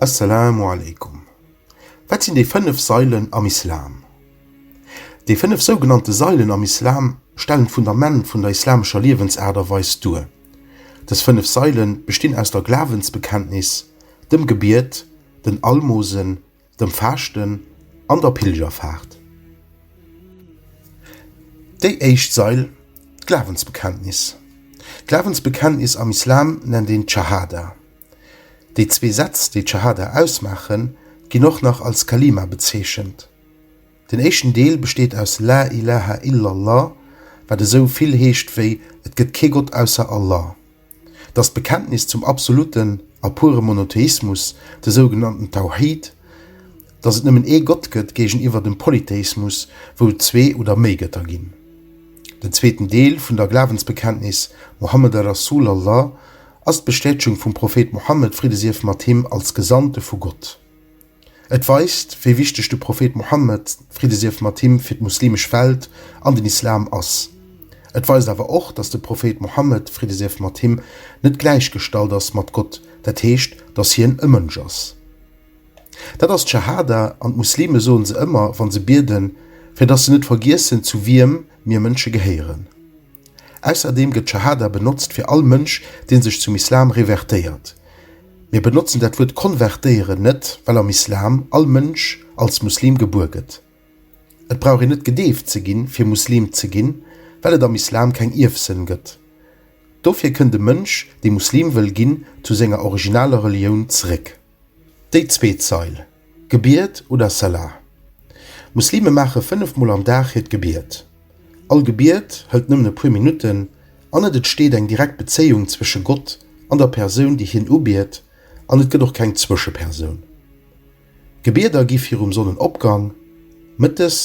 Assalamu alaikum. Wat sinn déi 5 Sailen am Islam? Déi 5 sougenannte Sailen am Islam stellen d'Fundament vun der islamescher Liewensaart a Weis duer. Dës 5 Saile bestinn aus der Glawensbekenntnis, dem Gebiet, den Almosen, dem Faaschten an der Pilgerfaart. Déi éischt Sail, d'Glawensbekenntnis. D'Glawensbekenntnis am Islam nennt een d'Schahada. Déi zwee Sätz, déi d'Schahada ausmaachen, ginn och nach als Kalima bezeechent. Den éischten Deel besteet aus La ilaha illallah, wat esou vill heescht wéi Et gëtt kee Gott ausser Allah. Et ass d'Bekenntnis zum absoluten a pure Monotheismus, de sougenannten Tauhid, dass et nëmmen ee Gott gëtt, géigeniwwer dem Polytheismus, wou et zwee oder méi Gëtter ginn. Den zweeten Deel vun der Glawensbekenntnis, Muhammad Rasul Allah, ass d'Bestätegung vum Prophet Muhammad, Fridde sief mat him, als Gesandte vu Gott. Et weist, wéi wichteg de Prophet Mohammed, Fridde sief mat him, fir d'muslimesch Welt an den Islam ass. Et weist awer och, dass de Prophet Mohammed, Fridde sief mat him, net gläichgestallt ass mat Gott, dat heescht, dass hien e Mënsch ass. Dat ass d'Schahada, an d'Muslime soen se ëmmer, wa se bieden, fir dass se net vergiessen, zu wiem mir Mënsche gehéieren. Ausserdeem gëtt Schahada benotzt fir all Mënsch, dee sech zum Islam revertéiert. Mir benotzen dat Wuert konvertéieren net, well am Islam all Mënsch als Muslim gebuer gëtt. Et brauch een net gedeeft ze ginn, fir Muslim ze ginn, well et am Islam keng Ierfsënn gëtt. Dofir kënnt e Mënsch, dee Muslim wëll ginn, zu senger originaler Relioun zeréck. Déi zweet Zeil, Gebiet oder Salah. Muslime maache fënnef Mol am Dag hiert Gebiet. All Gebiet hëlt nëmmen e puer Minutten an et entsteet eng direkt Bezéiung zwësche Gott an der Persoun, déi hien ubiet an et gëtt och keng Zwëschepersoun. Gebieder gi virum Sonnenopgang, mëttes,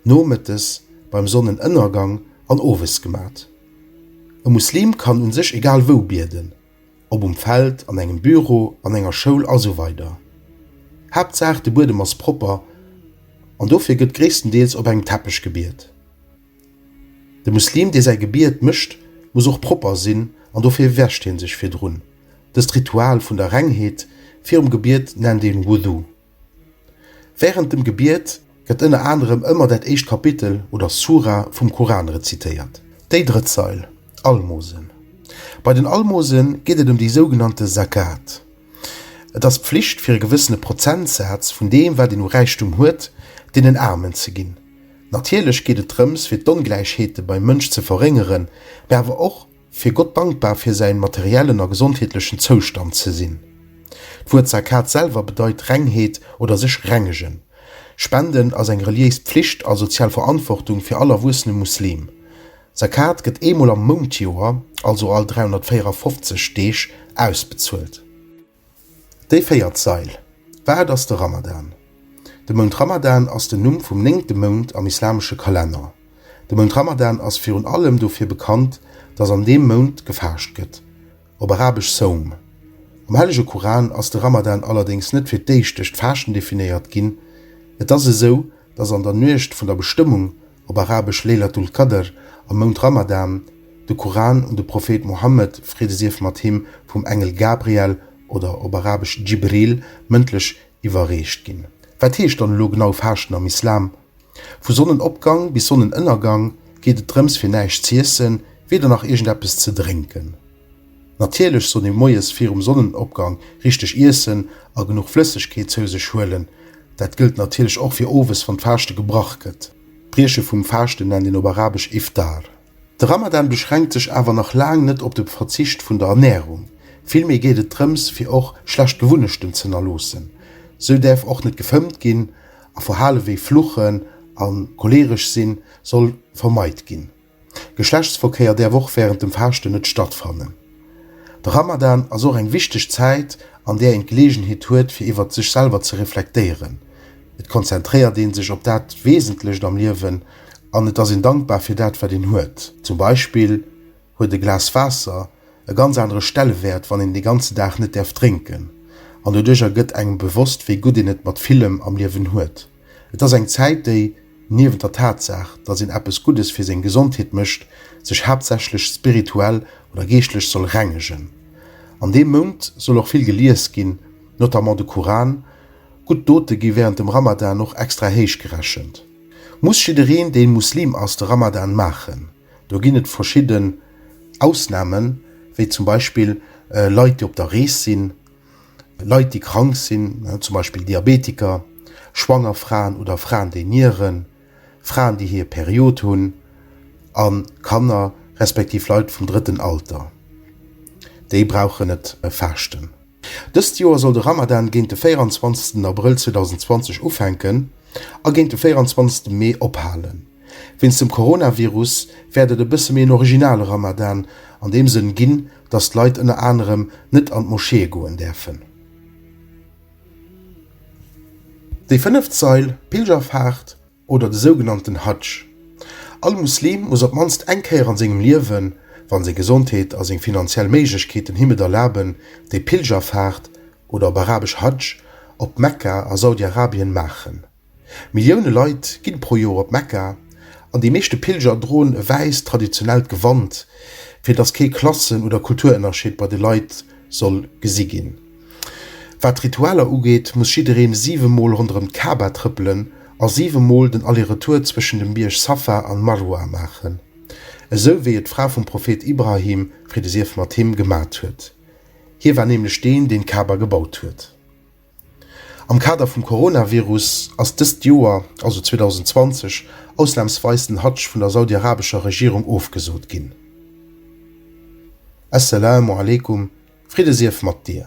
nomëttes, beim Sonnenënnergang an owes gemat. E Muslim kann u sech egal wou bieden. Ob um Feld, an engem Büro, an enger Schoul a sou weider. Haaptsaach de Buedem ass propper an dofir gëtt gréisstendeels op engem Teppech gebiet. De Muslim dee säi Gebiet mécht muss och propper sinn an dofir wäscht hie sech virdrun. Dëst Ritual vun der Rengheet virum Gebiet nennt een Wudhu. Wärend dem Gebiet gëtt ënner anerem ëmmer dat éischt Kapitel oder Sura vum Koran rezitéiert. Déi drëtt Sail, Almosen. Bei den Almose geet et ëm déi sougenannte Zakat. Et ass d'Pflicht fir e gewëssene Prozentsaz vun deem wat een u Räichtum huet, deenen Aarmen ze ginn. Natierlech geet et drëms fir d'Ongläichheete beim Mënsch ze verréngeren, mä awer och, Fir Gott dankbar fir säin materiellen a gesondheetlechen Zoustand ze sinn. D'Wuert Zakat selwer bedeit Rengheet oder sech rengegen. Spenden ass eng reliéis Pflicht a sozial Verantwortung fir all erwuessene Muslim. Zakat gëtt eemol am Moundjoer, also all 354 Deeg, ausbezuelt. Déi véiert Sail, Wat ass de Ramadan? De Mount Ramadan ass den Numm vum néngte Mount am islamesche Kalenner. De Mount Ramadan ass virun allem dofir bekannt, dass an deem Mount gefaascht gëtt, op arabesch Sawm. Am hellege Kuran ass de Ramadan allerdéngs net fir d'éischt duerch d'Faaschten definéiert ginn. Et ass esou, dass an der Nuecht vun der Bestëmmung, op arabesch Lejlatul Qadr, am Mount Ramadan, de Kuran un de Prophet Mohammed, Friede sief mat him, vum Engel Gabriel, oder op arabesch Djibril, mëndlech iwwerreecht ginn. Wat heescht dann elo genau Faaschten am Islam? Vu Sonnenopgang bis Sonnenënnergang geet et drëms fir näischt z'iessen, weder nach iergendeppes ze drénken. Natierlech soll ee moies virum Sonnenopgang richteg iessen a genuch Flëssegkeet zou sech huelen. Dat gëllt natierlech och fir owes wann d'Faaschte gebrach gëtt. D'Brieche vum Faaschten nennt een op arabesch Iftar. De Ramadan beschränkt sech awer nach laang net op de Verzicht vun der Ernärung. Villméi geet et drëms fir och schlecht Gewunnechten z'ënnerloossen. Sou däerf och net gefëmmt ginn a Verhale wéi Fluchen a choleeresch sinn soll vermeit ginn. Geschlechtsverkéier däerf och wärend dem Faaschten net stattfannen. De Ramadan ass och eng wichteg Zäit, an där een d'Geleegenheet huet, fir iwwert sech selwer ze reflektéieren. Et konzentréiert ee sech op dat Wesentlecht am Liewen an et ass een dankbar fir dat, wat een huet. Zum Beispill huet e Glas Waasser e ganz anere Stellewäert, wann een de ganze Dag net däerf drénken, an doduercher gëtt engem bewosst, wéi gutt een et mat villem am Liewen huet. Et ass eng Zäit, déi, niewent der Tatsaach, datt een eppes Guddes fir seng Gesondheet mécht, sech haaptsächlech spirituell oder geeschtlech soll rengegen. An deem Mount soll och vill gelies ginn, notamment de Kuran. Gutt Dote gi wärend dem Ramadan och extra héich gerechent. Muss jiddereen, deen Muslim ass, de Ramadan maachen? Do ginn et verschidden Ausnamen, wéi zum Beispill Leit, déi op der Rees sinn. Leit, déi krank sinn, zum Beispill Diabetiker, schwanger Fraen oder Fraen, déi nieren, Fraen, déi hir Period hunn a Kanner respektiv Leit vum drëtten Alter, déi brauchen et faaschten. Dëst Joer soll de Ramadan géint de 24. Abrëll 2020 ufänken a géint de 24. Mee ophalen. Wéinst dem Coronavirus wäert et e bësse méi en originale Ramadan an deem Sënn ginn, datt d'Leit ënner anerem net an d'Moscheeë goen däerfen. Déi fënneft Sail, d'Pilgerfaart oder de sougenannten Hadsch. All Muslim muss op d'mannst eng Kéier an sengem Liewen, wann seng Gesondheet a seng finanziell Méiglechkeeten him et erlaben, déi Pilgerfaart, oder op arabesch Hadsch, op Mekka a Saudi-Arabien maachen. Millioune Leit ginn pro Joer op Mekka an déi meeschte Pilger droen e wäisst traditionellt Gewand, fir dass kee Klassen oder Kulturënnerscheed bei de Leit soll gesi ginn. Wat d'Ritualer ugeet, muss jiddereen 7 mol ronderëm d'Ka'ba trëppelen a 7 mol den Aller-Retour zwëschen dem Bierg Safa an Marwa maachen, esou wéi et d'Fra vum Prophet Ibrahim, Fridde sief mat him, gemat huet. Hie war nämlech deen, deen d'Ka'ba gebaut huet. Am Kader vum Coronavirus ass dëst Joer, also 2020, ausnamsweis den Hadsch vun der saudi-arabescher Regierung ofgesot ginn. As-Salaamu Aleykum, Fridde sief mat dir!